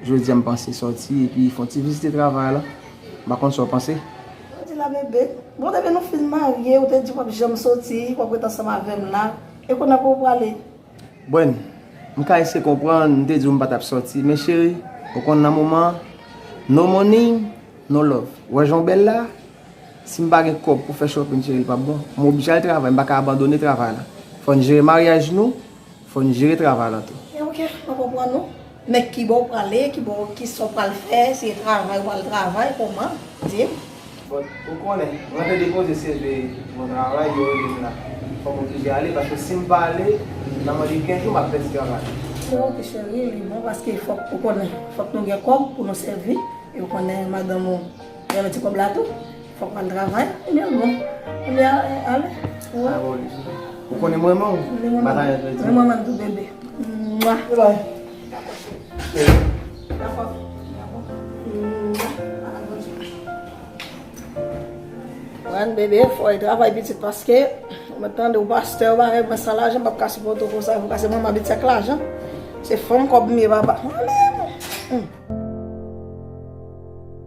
Jodi a m panse sòti epi fon ti vizite travay la. M pa konn sa w panse? Sa w di la bebe? Bon depi nou fin marye ou te di w pap janm sòti, w ap ret ansanm avè m la. E kounye a kote w prale? Bwen, m ka eseye konprann, m te di w m pa t ap sòti men cheri, ou konn nan moman an, no money, no love. Ou wè jan w bèl la? Si m pa gen kòb pou fè shopping cheri l pap bon. M oblije al travay, m pa ka abandone travay la. Fò n jere maryaj nou. Fò n jere travay la tou. E ok, mwen konprann ou. Men kibò ou prale, kibò, kisa ou pral fè, se travay ou pral travay, kòman? Di m. Bon, ou konnen, mwen te depoze CV yon travay, yo rele m la. Fò m oblije ale, paske si m pa ale, nan mwen gen 15 jou m ap pèdi travay la. E ok cheri, li bon paske fòk, ou konnen, fòk nou gen kòb pou nou sèvi, e ou konnen madanm ou renmen ti kòb la tou. Fok mwen al travay oubyen bon oubyen ale ou konnen m renmen w batayèz vle di m renmen m tou bebe Rèn bebe fòy travay pitit paske mwen tande ou pastè ou bagay mwen san lajan m pap ka sipòte w konsa fok ase mwen m abitye ak lajan se fanm kòb m ye papa.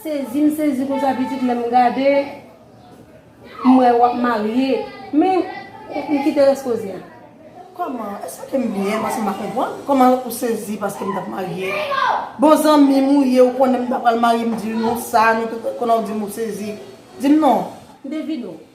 Sezi m sezi konsa pitit lè m gade m wè wap marye men m kite rès koze a. Kòman, èske ke m byen paske m pa konprann, kòman ou sezi paske m tap marye? Bon zanmi m ou ye ou konnen m ta pral marye m di w non sa, nou tout konnen w di m ou sezi. Di m non. M te vide w.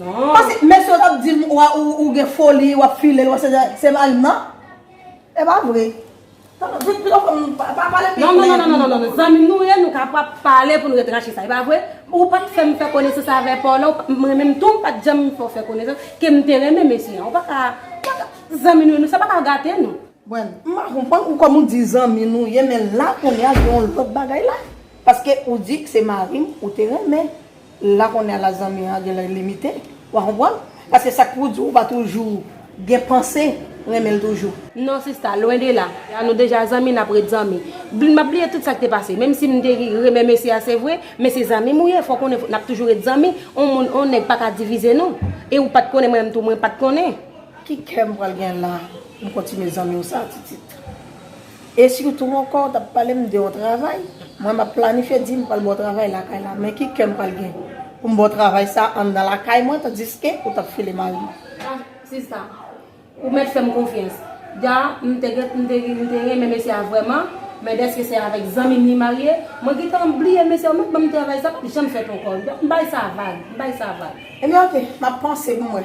Pase mesye yo tap dim ou gen foli wap filel wap se se marim nan e pa vre pito fanm pa pale pi klè non non non zanmim nou ye nou ka pa pale poun ret rache sa e pa vre ou pat fèm fè konesans avè paw la mwen menm tou pat janm fèw fè konesans kem te renmen mesye an ou paka zanmi nou ye sa paka gate nou. Bon m pa konprann ou kòm ou di zanmi nou ye men la kounya gen yon lòt bagay la paske ou di se marim ou te renmen. La kounye a la zanmi an genlè limite, wa konprann. Paske sak pou w di ou pa toujou gen panse renmen l toujou. Non sista, lwen de la. Lè nou deja zanmi nap ret zanmi. Bly map bliye tout sak te pase. Menm si m te renmen mesye a se vre, men se zanmi m ou ye, fò w konnen nap toujou ret zanmi. On moun, on nèg paka divize nou. E ou pat konnen mwen menm tou mwen pat konnen. Ki kè m pral gen la pou m kontinye zanmi w sa titit. E sitou ankò, w t ap pale m de yon travay. Mwen m ap planifye di m pral ba w travay lakay la, men ki kè m pral gen pou m ba w travay sa a anndan lakay mwen tandiske ou t ap file mari m? A, sista, ou mèt fè m konfyans. Da, m te gen, m te gen, m te renmen mesye a vrèman, men dèske se avèk zanmi m li marye, mwen gentan bliye mesye a, ou mèt ban m travay sa a, m p ap janm fè t ankò. M bay sa vag, m bay sa vag. Ebyen ok, m ap panse pou m wè.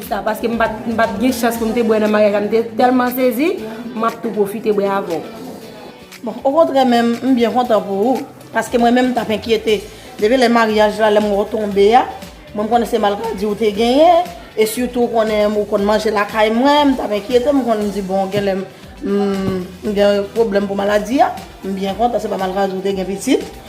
sa paske m pat gen chans pou m te bwè nan maryaj la m te tèlman sezi m ap tou pwofite bwè avè w. Bon okontrè menm m byen kontan pou ou paske mwen menm m tap enkyete depi lè maryaj la lè m wè w tonbe a mwen m konnen se malkadi w te genyen e sitou w konnen ou konn manje lakay mwen m tap enkyete m konn m di bon genlè m gen pwoblèm pou maladi a m byen kontan se pa malkadi w te gen pitit.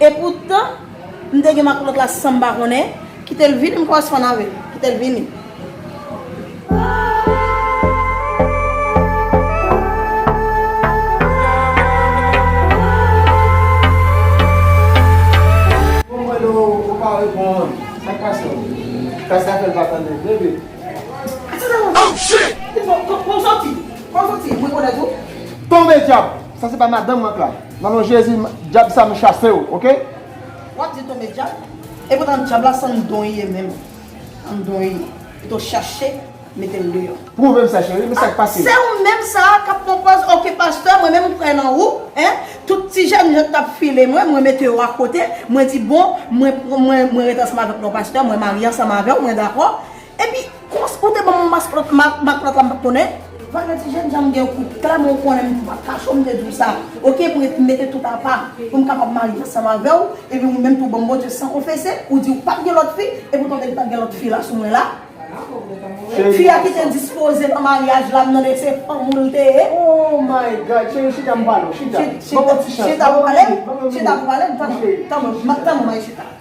Epoutan, m te gen makoulot la san m pa konnen, kite l vini m koresponn avè l. Kite l vini. Nan non jezi djab sa m chasew ok. Wap di tonbe djab epoutan djab la san don li ye menm an don li ye pito chache metel deyò. Prouvem sa cheri men sak pase. Se ou menm sa a kap pran pòz ok pastè mwen menm m kwè nan ou hein tout ti jèn yo tap file mwen mwen mete yo akote mwen di bon mwen mwen ret ansanm avèk non pastè mwen marye ansanm avèw mwen dakò Epi kous ou te banm yon mask lòt mak, mak lòt la m pat konnen. Vagran ti jèn janm gen yon kout klè men ou konnen m pa kache w m te di w sa ok pou m mete tout apa pou m kapab marye ansanm avè w epi ou menm tou banm bondye san konfese ou di ou pat gen lòt fi epi ou tande li pat gen lòt fi la sou mwen la fi a ki te dispoze nan maryaj la m tande se fanm ou l te ye oh my God cheri chita m pale w chita banm yon ti chans chita pou pale m chita pou pale m tanpri tanpri tanpri mayi chita.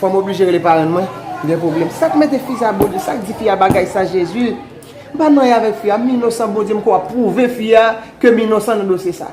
Fòm oblije rele parenn mwen Gen problem Sak mete fi sa bondye Sak di fi a bagay sa jezi M pa nan y avèk fi a M inosan bondye m kwè wap pwouve fi a Ke m inosan nan dosye sa.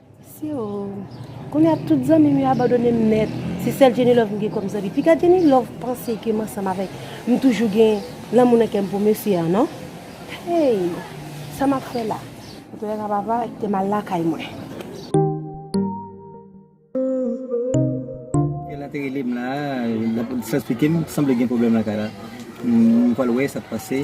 Mesi oo. Kounya tout zanmim yo abandonem nèt. Se sèl Jenny Love mgen kòm zanmi. Piga Jenny Love panse kem ansanm avèk mtoujou gen lanmou nan kèm pou mesye an non. Hey sa map fè la. Map wè kaka papa ak tem al lakay mwen. Gen la te relem la lap esplikem sanble gen pwoblèm lakay la. Mpwal wè sak pase.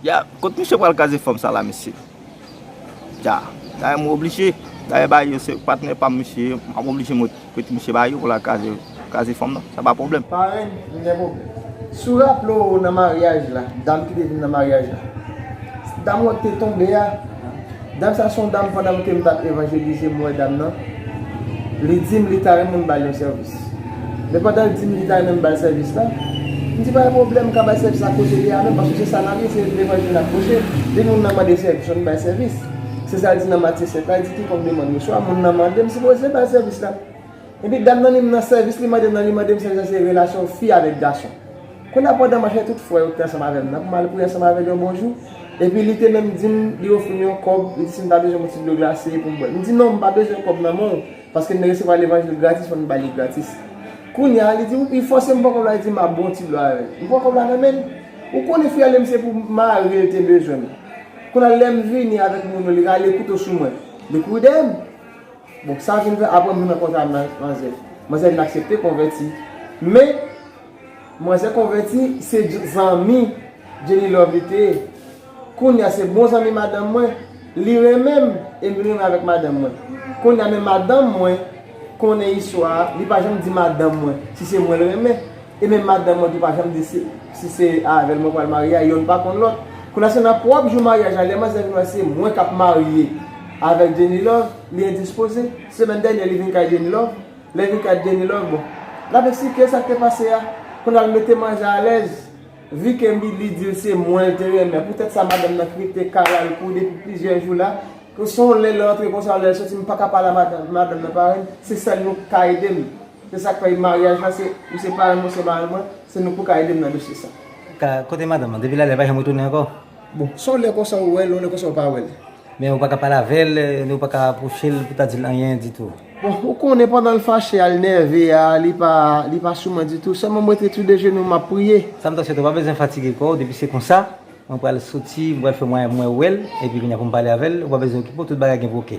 Ya kot misye pral kaze fanm sa la mesye ya dayè mwen oblije dayè bae yo se patnè pam misye ye map oblije mwen prete misye bae yo pou la kaze kaze fanm nan sa pa pwoblèm. Parenn m gen pwoblèm. Si w raple w nan maryaj la, dam ki te vin nan maryaj la, dam wè k te tonbe a, Dam sa son dam pandanm kem tap evanjelize m wè dam nan li dim li ta renmn m bal yon sèvis men pandanl dim li ta renmn m bal sèvis la m di pa gen pwoblèm m ka bay sèvis la kote li a menm paske se sa nap ye se levanjil nap preche depi moun nan mande sèvis fòk nou bay sèvis se sal di nan Matye 7 la li di kikòk demann reswa moun nan mande m sipoze bal sèvis la epi dam nan li m nan sèvis li mandem nan li mandem sèvis la se relasyon fi avèk gason. Kounye a, pandan m ap chèche tout frè yo ki te ansanm avè m nan pou m al priye ansanm avè l yon bonjou, epi li te menm di m, li ofri m yon kòb, li di si m ta bezwen yon ti dlo glase pou m bwè. M di, Non, m pa bezwen kòb nan men w, paske m te resevwa levanjil gratis, fò m ba li gratis. Kounye a, li di, Ou, li fòse m pran kòb la, li di m ap ba w ti dlo a avè l. M pran kòb la nan men l. Ou konnen, fi a lè m se pou mari l te bezwen m. Kounye a, lè m vini avèk moun yo, li rale kouto sou mwen. Li kouri dèyè m. Bon, sa vin fè, apre m vin rankontre ak manzè, manzè vin aksepte konvèti. Men. Manzè konvèti se zanmi Jenny Love li te ye kounya se bon zanmi madanm mwen li renmen m e m renmen avèk madanm mwen kounya men madanm mwen konnen istwa a li pa janm di madanm mwen si se mwen l renmen e menm madanm mwen tou pa janm di si se avèl mwen pral marye a yonn pa konn lòt kounya se nan pwòp jou maryaj la lè manzè vin wè se mwen kap marye avèk Jenny Love li endispoze semèn dènyè li vin kay Jenny Love Lè Vika t Jenny love bon lap eksplike sak te pase a pou lal mete manzè alèz Vu ke Milly dil se mwen l te renmen pou tèt sa madanm nan t rete kalal pou depi plizyè jou la pou son lè l rantre konsa lèl soti m paka pale a madanm nan parenn se sèl nou k ka edem se sak fè maryaj la se ou se parenn mwen ou se marenn mwen se nou pou ka edem nan dosye sa. Kote madanm nan depi lale li pa janm retounen ankò. Bon son lè konsa ou wèl yon lè konsa ou pa wèl. Men ou paka pale avèl ni ou paka apwochel pou ta dil anyen ditou. Bon ou konnen pandan l fache a l nève a li pa li pa sou mwen ditou sèlman m rete tou dejenou map priye. Sa m ta swete ou pa bezwen fatige kòw depi se konsa mwen pral soti m pral fè mwayen pou mwen wèl epi kounya pou m pale avèl ou pa bezwen okipe w tout bagay gen pou ok.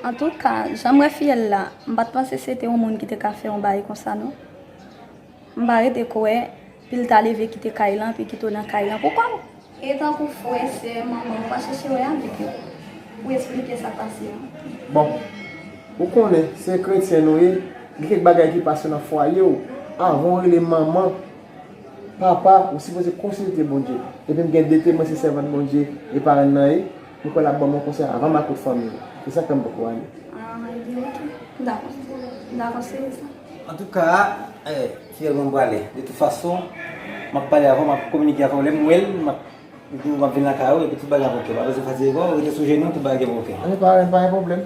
Antouka janm wè fiyèl la m pat panse se te yon moun ki te ka fè yon baay konsa non. M pa rete kwè, pil ta leve kite kay lan pi kite w nan kay lan pou kò w. E tankou frè, sè, manman ou pa chèche wè avèk yo pou esplike sa k pase an. Bon, ou konnen, se kretyen nou ye, gen kèk bagay ki pase nan fwaye w, avan w rele manman, papa, ou sipoze konsilte Bondye. Epi m gen de temwen se sèvant Bondye e parenn nan ye. M kwè lap banm yon konsèy avan makout fanmi yo. Se sak fèm poko ale. Ah ebyen ok. M dakò. M dakò se sa. Antouka eh fiyèl mwen m prale. De tout fason map pale avèw map kominike avèw lèm wèl map diw map vin lakay ou epi tout bagay ap ok pa bezwen fatige kòw rete sou jenou tout bagay gen pou ok. Ok parenn pa gen pwoblèm.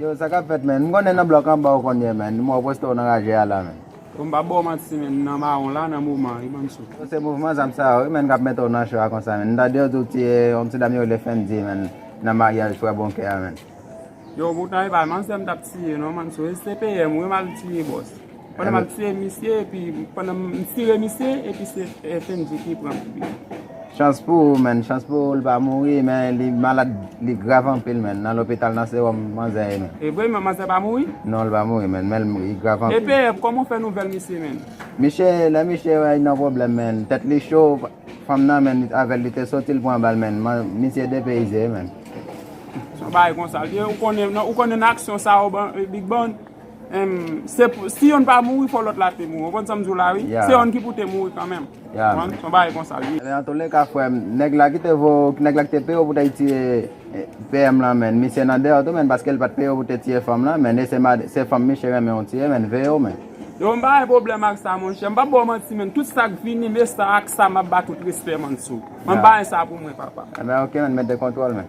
Yow sa kap fèt menn, m konnen nan blòk anba ou konn ye menn, m wè w poste w nan raje a la menn. Bon m pa ba w manti menn, m nan mawon la nan moman an wi bann sòt. Bon se mouvman zam sa yo wi menn kap mete w nan cho a konsa menn, m tande yo di w tiye yon ti dam yo rele Fendy menn nan maryaj frè Bonkè a menn. Yow poutan e pa manzè m tap tiye non mann sòt, e se PM wi m al tiye bòs. Pandan map tiye misye epi pandan m tire misye epi se Fendy ki pran kout. Chans pou ou menn, chans pou ou li pa mouri men li malad li grav anpil menn nan lopital nan sewòm manzè ye menn. Evre menn manzè pa mouri? Non li pa mouri menn men li grav anpil. Epee kòman ou fè nouvèl misye menn? Misye lè misye wè li nan pwoblèm menn tèt li cho fanm nan menn avèl li te soti li pran bal menn misye depeyize menn. Son bagay konsa li ye ou konnen nan aksyon sa yo big bon? Em se pou si yonn pa mouri fò lòt la te mouri ou konn sam diw la wi se yonn ki pou te mouri kanmenm ou konn son bagay konsa li ye. Nan toule ka frèm nèg la kite vo nèg la kite peyew pou tay tiye PM lan menn misye nan deyò tou menn paskel pat peyew pou te tiye fanm lan menn e se mad se fanm misye renmen ou tiye menn veyew menn. Yo m pa gen pwoblèm ak sa monchè m pap baw manti menn tout sak vini me sa ak sa map ba tout respè mann sou an m pa gen sa pou mwen papa. Ebyen ok menn mete kontwòl menn.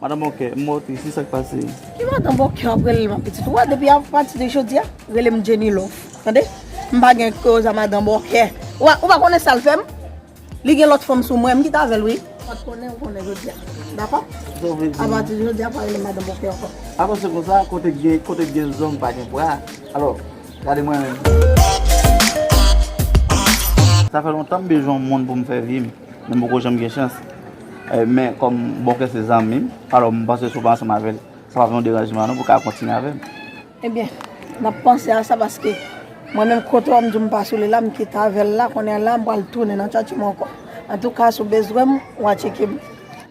Madan bòkè m wèw tris wi sak pase. Ki madan bòkè wap relel ma pitit ou wè depi apati de jodia relem jenny love tande m pa gen koz a madan bòkè ou pa konnen sal fèm li gen lòt fanm sou mwen m kite avèl wi pat konnen ou konnen jodia dakò apati de jodia pa relem madan bòkè ankò. Alò se konsa kote ki gen zong pa gen bra alò gade mwen menm. Sa fè lontan m bezwen yon moun pou m fè vi m. Nou poko janm gen chans. Men kòm Bonkè se zanmi m, alò m panse si w pa ansanm avè l, sa pap yon deranjman non pou w ka kontinye avè m. Ebyen, m ap panse a sa paske mwen menm kote w ap di w m pa sou li la, m kite avè l la, kounye a la m pral tounen nan tchatchi m ankò. Antouka, si w bezwen m, w a tcheke m.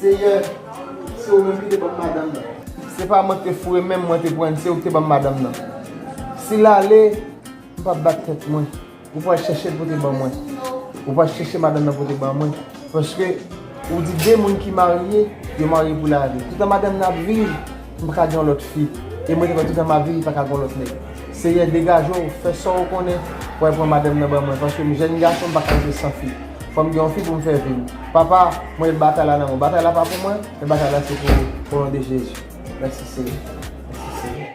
Seyè, se ou menm ki te ban m madanm nan. Se pa mwen ki te foure men m, mwen te pran l, se ou ki te ban m madanm nan. Si l ale, m p ap bat tèt mwen. Ou pral chèche l pote ban mwen. Ou pral chèche madanm nan pote ban mwen. Paske, ou di de moun ki marye, yo marye pou lavi. Toutan madanm nan ap viv, M paka gen yon lòt fi e mwen te wè toutan ma vi li paka gen yon lòt nèg. Seyè degaje w, fè sa w konnen pou al pran madanm nan ban mwen paske m jèn gason m paka rete san fi. Fò m gen yon fi pou m fè vi m. Papa, mwen met batay la nan men w. Batay la pa pou mwen, men batay la se pou ou. O non de Jezi. Mèsi Seyè. Mèsi Seyè.